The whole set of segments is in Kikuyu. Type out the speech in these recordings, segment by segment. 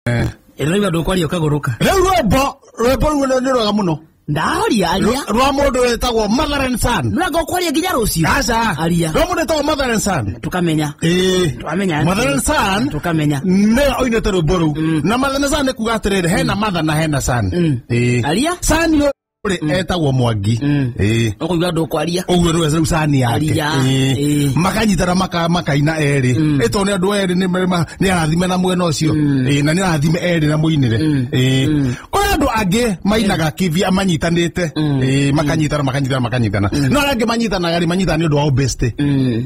Eh. ĩroiga ndå kwaria å kagå rå ka Rĩu rwĩmbo rwĩmbo rũu nĩ rwega mũno. ndahoria aria Rwa- Rwa mũndũ wĩtagwo Mother and Son. nä ranga å kwaria nginya rå cio Aca. Aria. Rwa mũndũ wĩtagwo Mother and Son. tå kamenya Ĩĩ. twamenya Mother and Son tå kamenya nĩwe oinĩte rwĩmbo rũu. Na Mother and Son nĩ kuga atĩrĩrĩ, hena Mother na hena Son. Mm. Ĩĩ. aria Son rĩ etagwo mwangi Mm. Ĩĩ. ũkũigua andũ kwaria ũguo nĩwe rĩu cani yake Aria, Ĩĩ. ĩĩ. makanyitana maka- makaina erĩ ĩtwo nĩ andũ erĩ nĩ marĩ ma- nĩ arathime na mwena ũcio Ĩĩ, na nĩ arathime erĩ na mũinĩre Ĩĩ. kũrĩ andũ angĩ mainaga kivia manyitanĩte Ĩĩ, makanyitana makanyitana makanyitana no arĩa angĩ manyitanaga rĩ manyitana nĩ ũndũ wa ũbesti Mm.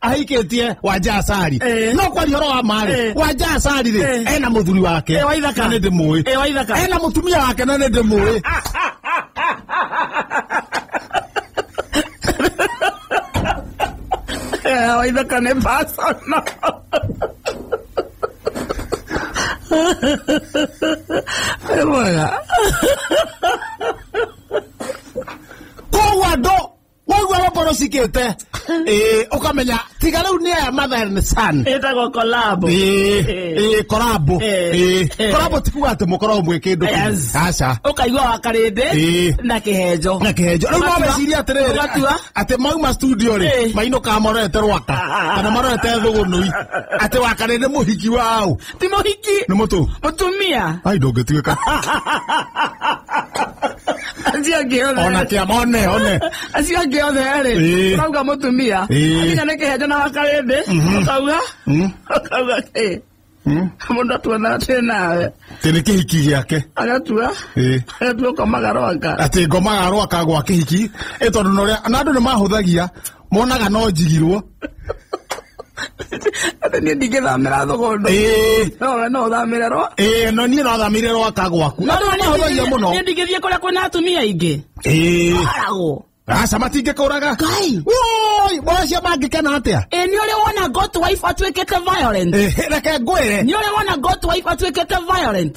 ahikĩtie wanja acari Eh. no kwaria ũhoro wa marĩ Eh. wanja acari rĩ Eh. ena mũthuri wake Eh, wa ithaka. na nĩ ndĩmũĩ Eh, wa ithaka. ena mũtumia wake na nĩ ndĩmũĩ Eh, wa ithaka nĩ personal. Nĩ mwega. koguo andũ waigua roboro cikĩte Ĩĩ, ũkamenya tiga rĩu nĩ aya mathen san ĩtagwo kolabo korabo Ĩĩ. Ĩĩ. korabo tikuga atĩ mũkoragwo mwĩ kĩndũ kĩmwe. Yes. aca ũkaigua wa karĩndĩ Ĩĩ. na kĩhenjo na kĩhenjo rĩu Ũgatua- naweciria atĩrĩrĩ ũgatua- atĩ mauma studio rĩ Ĩĩ. mainũkaga marorete rwaka Ah, ah, ah, kana marorete thũgũnũi atĩ wakarĩndĩ mũhiki wao ti mũhiki nä må tå mũtumia ai ndå ngä tuä ka acio angĩ othe ona kä ama one one acio angĩ othe Ĩĩ. rĩ ũrauga mũtumia Ĩĩ. akinya nĩ kĩhenjo na wakarĩndĩ ũkauga Mm, ũkauga ĩ mm. mũndũ atuona atĩ nawe tä nä kä hiki gä ake agatua Ĩĩ. agatua ũkomaga rwanga atä ngomaga rwaka gwa kä hiki ä tondå na andå nä mahå thagia monaga no njigirwo Atĩ niĩ ndingĩthamĩra thũgũndũ. Ĩĩ. No we no ũthamĩre rwa. ĩĩ no niĩ no thamĩire rwaka gwaku No andũ nĩ mahũthagia mũno Niĩ ndingĩthiĩ kũrĩa kwĩna atumia aingĩ. ĩĩ Aragwo. aca matingĩkũraga Ngai. woi mocio mangĩkena atĩa Ĩ nĩ ũrĩ wona goat wife atuĩkĩte violent. Ĩĩ, reke ngwĩre Nĩ ũrĩ wona goat wife atuĩkĩte violent.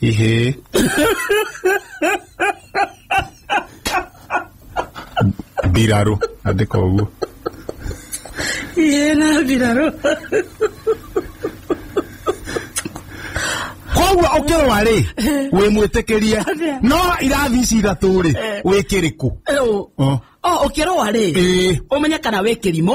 Ihee. Mbirarũ, andĩka ũguo. Ihee na mbirarũ. Koguo ũkĩrwa rĩ, wĩ mwĩtĩkĩrie. No irathi ici ithatũ rĩ, wĩ kĩrĩkũ? Ũ- Oh. o ũkĩrũa rĩ Ĩĩ. ũmenye kana wĩ kĩrimũ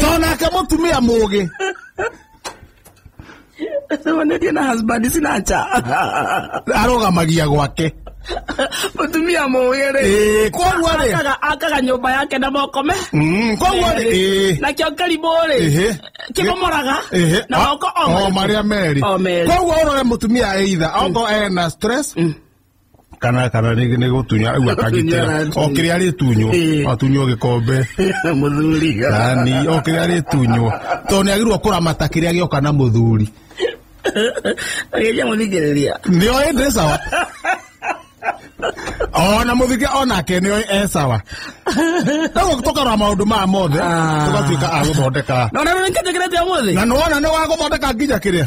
tondũ nake mũtumia mũgĩ Nĩwonetio na husband sinacha. arũgamagia gwake Mũtumia mũgĩ rĩ. Ĩĩ, koguo rĩ Akaga- akaga nyũmba yake na moko me Mm, koguo rĩ ĩĩ. nakĩo kĩrimũ rĩ Ehe. kĩmomoraga Ehe. na moko o marĩa merĩ O merĩ. koguo ũrore mũtumia either ongo ena stress kana kana nĩ nĩ gũtunya rĩu akagitĩra o kĩrĩa arĩtunywo atunywo gĩkombe muthuri yani o kĩrĩa arĩtunywo tondũ nĩ agĩrĩirwo kũramata kĩrĩa gĩoka na mũthuri agĩja muthikiriria nĩo ĩndĩ sawa ona mũthige onake nĩo e sawa rĩu tũkarora maũndũ maya mothe Ah. tũgatuĩka a gũthondeka no na nä kä njä kä rä te må thä na nĩwona nĩ wa gũthondeka nginya kĩrĩa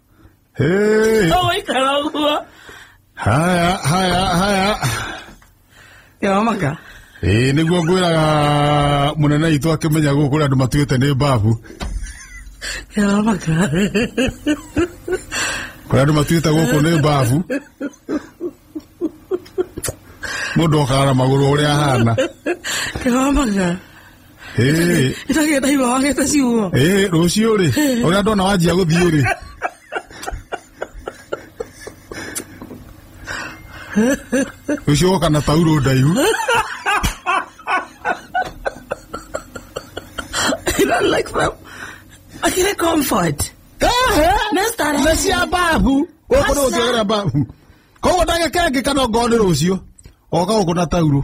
Hey! Oi, caramba! Haya, haya, haya. Yamaka. Ĩĩ nĩguo ngwĩraga mũnene witũ akĩmenya gũkũ kũrĩ andũ matuĩte nĩ mbabu Yamaka. kũrĩ andũ matuĩte gũkũ nĩ mbabu mũndũ okaga na magũrũ ũrĩa ahana Yamaka. Eh, ndagenda hiwa wagete ciugo eh, rũciũ rĩ ũrĩa ndona wanjia gũthiĩ rĩ rũciũ ũgoka na tauro ndaihu I don't like them. I get comfort. Next time. nĩ cia mbabu gũkũ nĩ gũkĩagĩra mbabu koguo ndagĩkengĩka no ngoo nĩ rũciũ oka gũkũ na tauro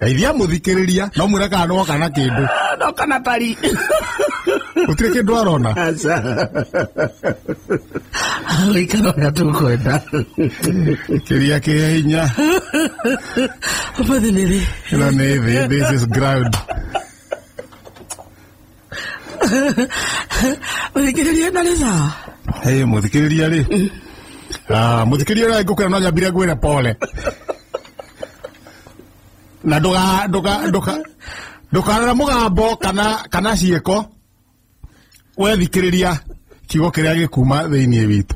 geithia mũthikĩrĩria no mwĩra kana no kana kĩndũ no kana tari gũtirĩ kĩndũ arona aca gũikara ũrĩa tũkwenda kĩria kĩ hinya ũmũthĩ nĩ rĩ ĩno nĩ thĩ this is ground Mũthikĩrĩria na nĩ sawa. Hey, mũthikĩrĩria rĩ Ah, mũthikĩrĩria ũrĩa ngũkwĩra no nyambire ngwĩre pole na ndũga ndũga ndũga ndũkarora mũgambo kana kana ciĩko wethikĩrĩria kiugo kĩrĩa gĩkuma thĩinĩ witũ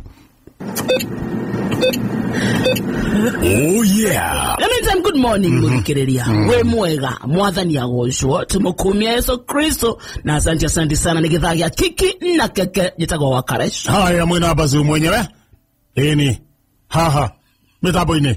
Oh yeah. Let me tell you, good morning mũthikĩrĩria wĩ mwega mwathani agocwo tũmũkumia yesu kristo na asante asante sana nĩ gĩthaa gĩa kiki na keke njĩtagwo wa karesh Haya mwina bazu mwenyewe. Ini. Haha. Mitaboini.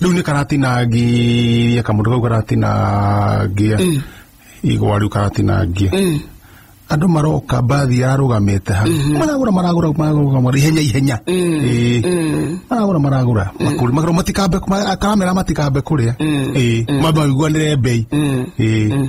rĩu nĩ karatinangia kamũndũ kau karatinangia igwa rĩu karatinangia andũ maroka mbathi yarũgamĩte hau maragũra maragũra maragũra maragũra ihenya ihenya Ĩĩ. maragũra maragũra makũri makarwo matikambe ma- akaramera matikambe kũrĩa Ĩĩ. mambe maiguanĩre mbei Ĩĩ.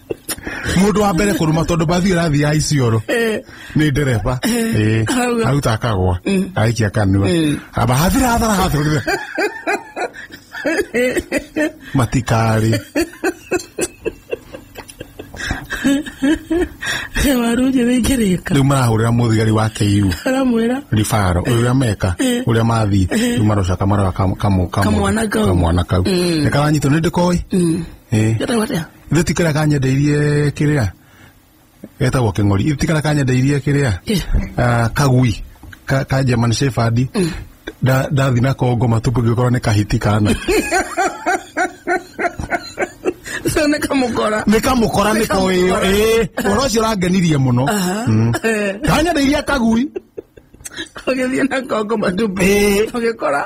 mundu wa mbere kuruma tondu mbathi irathi ya icioro ni ndereba Eh, Hauga. aruta akagwa aikia kanua aba hathira hathara hathira matikari waru njĩthĩ ingĩrĩka riu marahurira muthigari wa KU aramwĩra ribaro uria meka uria mathi riu marocaka marora kamu- kamu- kamu- Kamwana kau. kamwana kau nikaranyitwo ni ndikoi Eh. Gata gata. ithe ti karĩa kanyendeirie kĩrĩa getagwo kĩng'ori ithe ti karĩa kanyendeirie kĩrĩa Kĩ? Ah, kagui ka, ka German Shepherd Nda- ndathi na kongo matumbĩ ngĩkorwo nĩ kahiti kana Sasa nä kamå kora nä kamå kora nä ko ä yo ä å ro å cio å rangenirie må no kanyendeirie kagui å gä thiä na kongo matumbä Ĩĩ. å gä kora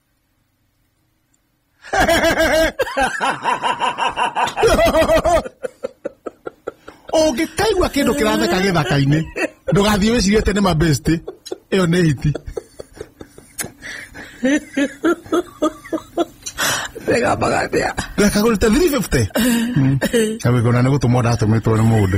ũngĩkaigua kĩndũ kĩratheka gĩthaka-inĩ ndũgathiĩ wĩcirie atĩ nĩ mabesti ĩyo nĩ hiti Rega magathĩa. ndakagũrĩte 350 agĩkona nĩ gũtũmwo ndatũmĩtwo nĩ mũndũ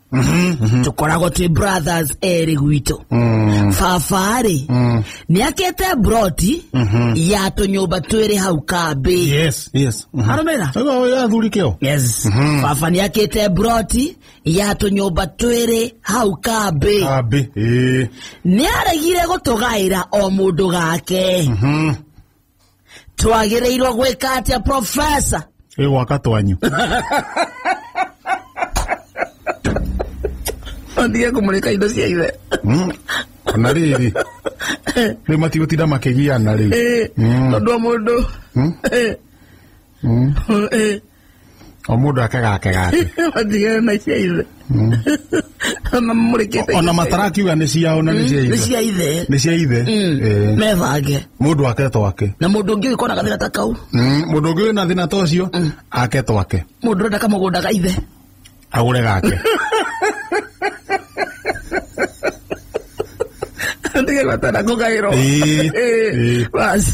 tũkoragwo twĩ brothers erĩ gwitũ baba-rĩ nĩakĩte broti ya tũnyũmba twĩrĩ hau kambĩ yes yes Mhm. arũmĩra Sasa wewe ya thuri keo yes baba nĩakĩte broti ya tũnyũmba twĩrĩ hau kambĩ ambe eh nĩaregire gũtũgaĩra o mũndũ gake twagĩrĩirwo gwĩka atĩa profesa ä gwaka twanyu ondige kũmũrĩka indo cia ithe Mm. na rä rä rä matigå tinda makä giana rä u tondå mũndũ Mm. Mm. o mũndũ ake gake gake matigana na cia ithe ona mũrĩkĩte ona matarakiuga nĩ ciao na nĩ cia nĩ ithe cia ithe nĩ cia ithe Eh, mebange mũndũ ake twake na mũndũ ũngĩ ũgĩkona gathĩna ta kau Mm, mũndũ ũngĩ wĩna thĩna ta ũcio ake twake mũndũ ũrenda kamũgũnda ga ithe agure gake ndige gwatana kugairwo Ĩĩ, ĩĩ. bas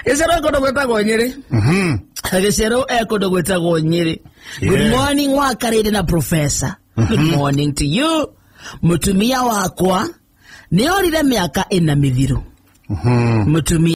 gĩcero kũndũ gwĩtagwo nyĩrĩ Mhm. gĩcero e kũndũ gwĩtagwo nyĩrĩ good Yeah. morning wakarĩire na professor good morning to you mũtumia wakwa nĩorire mĩaka ĩna mĩthiru Mhm. mũtumia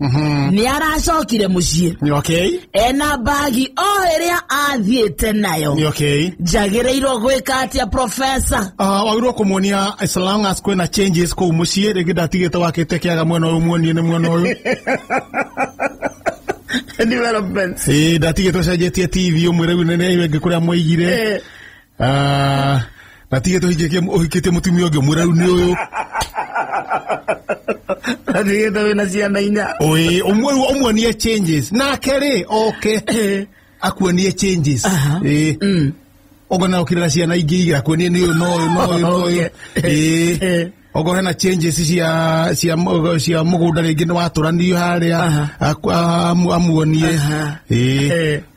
nĩ aracokire mũciĩ Nĩ okay. ena mbagi o ĩrĩa athiĩte nayo Nĩ okay. njagĩrĩirwo gwĩka atĩa profesa Uh, wagĩrĩirwo kũmuonia as long as kwĩna changes kũu mũciĩ rĩngĩ ndatigĩte wakĩte kĩaga mwena ũyũ muonie nĩ mwena ũyũ development Ĩĩ, ndatigĩte ũcenjetie tv ũmwĩre rĩu nĩ nĩ ĩngĩ kũrĩa mwaigire Eh. Ah, na tige tũhingĩkie ũhikĩtie mũtumia ũngĩ mwĩra rĩu nĩ ũyũ ndigĩte wĩna ciana inya Oĩ, ũmwe rĩu ũmuonie changes nake rĩ oke akuonie changes Aha. Ĩ. Mm. ogo na ukire na ciana ingĩ igä akuonie nä å no å yå no å yå no å yå Eh. ogo hena changes cia cia må- cia må gå nda rä ngä nä watå ranio harä Aha. a amuonie Aha. Ĩ. Eh.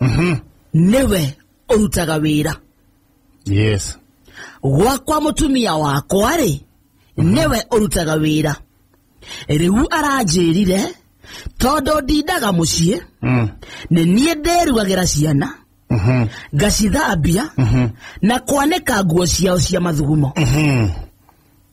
Mhm. nĩwe ũrutaga wĩra yes gwakwa mũtumia wakwa-rĩ nĩwe ũrutaga wĩra rĩu aranjĩrire tondũ ndindaga mũciĩ Mm. nĩ niĩ ndĩrugagĩra ciana Mhm. ngacithambia Mhm. na kwanĩka nguo ciao cia mathugumo Mhm.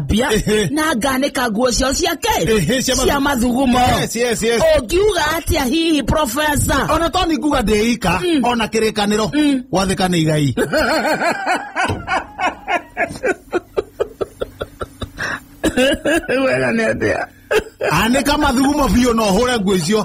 mbia Ehe. na nganĩka nguo ciao ciake Ehe, cia mathu- cia mathugumo Yes, yes, yes. ũngiuga atĩa hihi profesa ona to ni nguga ndĩika ona kĩrĩkanĩro gwathĩka nĩ igai wega nĩ atĩa anĩka mathugumo biũ no hũre nguo icio